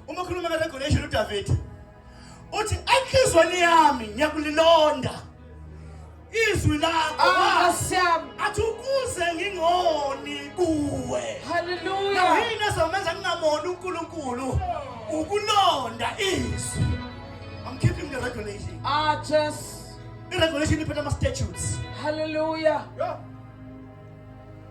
uma khuluma ka regulation uDavid uthi enhlizweni yami ngiyakulilonda izwi lakho Ah, Nkosi yami. athi ukuze ngingoni kuwe Hallelujah. nahini ezomenza ngingamoni unkulunkulu ukulonda izwi i'm keeping the regulation Ah, Jesus. i-regulation iphetha ama-statutes Hallelujah.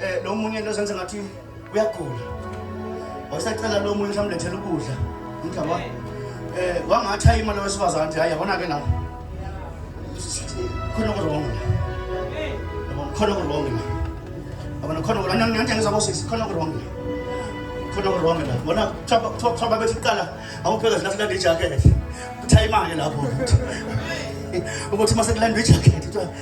Eh lo munye lo senze ngathi uyagula. Wasacela lo munye samlethela ukudla. Ngicaba. Eh wangatha imali wesifazane nje hayi yabona ke la. Khona kurongo. Yabona khona kurongo la. Yabona khona kurongo. Nani nani ngizabo sisi khona kurongo la. Khona kurongo la. Bona chaba chaba bethi qala awupheka zinathi la jacket. Uthayimake lapho. Ukuthi mase kulandwa ijacket.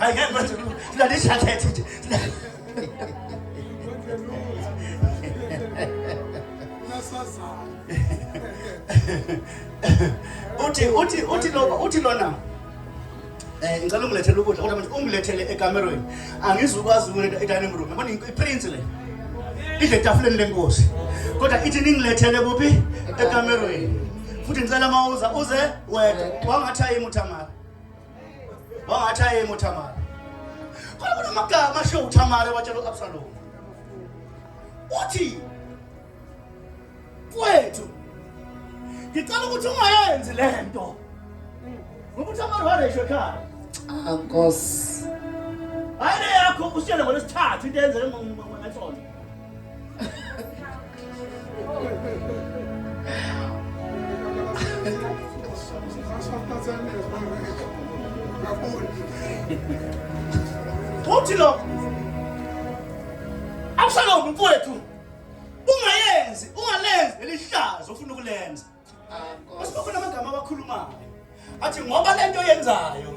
Ay, gel bak. Şuna ne şaka etsin. uthi uthi uthi lo uthi lona eh ngicela ungilethele ukudla kodwa manje ungilethele ekamerweni angizukwazi ukuletha edining room yabona iprince le idle etafuleni lenkosi kodwa ithi ningilethele kuphi ekamerweni futhi ngicela uma uza uze wedwa wangathi ayimi uthamara wangathi ayimi uthamara khona kunamagama asho uthamara watshela u-absalomu uthi kwethu ngicela ukuthi ungayenzi le nto ngoba uthamara waresho ekhaya ah, nkosi hayi le yakho usitshele ngolwesithathu into eyenzeke ngathona Uthi lo Absalom mfowethu ungayenzi ungalenzi lelihlazo ufuna ukulenza Asibona amagama abakhulumayo. Athi ngoba lento yenzayo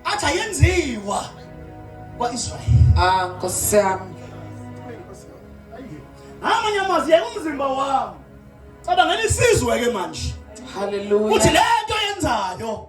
athi ayenziwa kwaIsrayeli. Ah, Nkosi yami. Amanye amazwi yeka umzimba wami. Cabangela isizwe ke manje. Hallelujah. Uthi lento yenzayo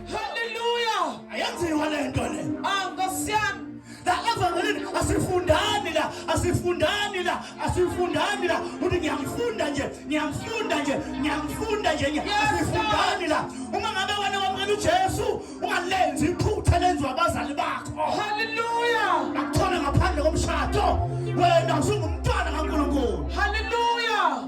Hallelujah. Ayenziwa lento le. Ah Nkosi yami. La evangelini asifundani la, asifundani la, asifundani la. Uthi ngiyamfunda nje, ngiyamfunda nje, ngiyamfunda nje. Asifundani la. Uma ngabe wena wamukela uJesu, ungalenzi iphutha lenziwa abazali bakho. Hallelujah. Akuthola ngaphandle komshado. Wena usungumntwana kaNkulunkulu. Hallelujah.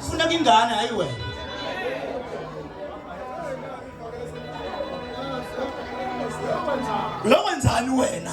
Funeka ingane hayi wena. Lo wenzani wena?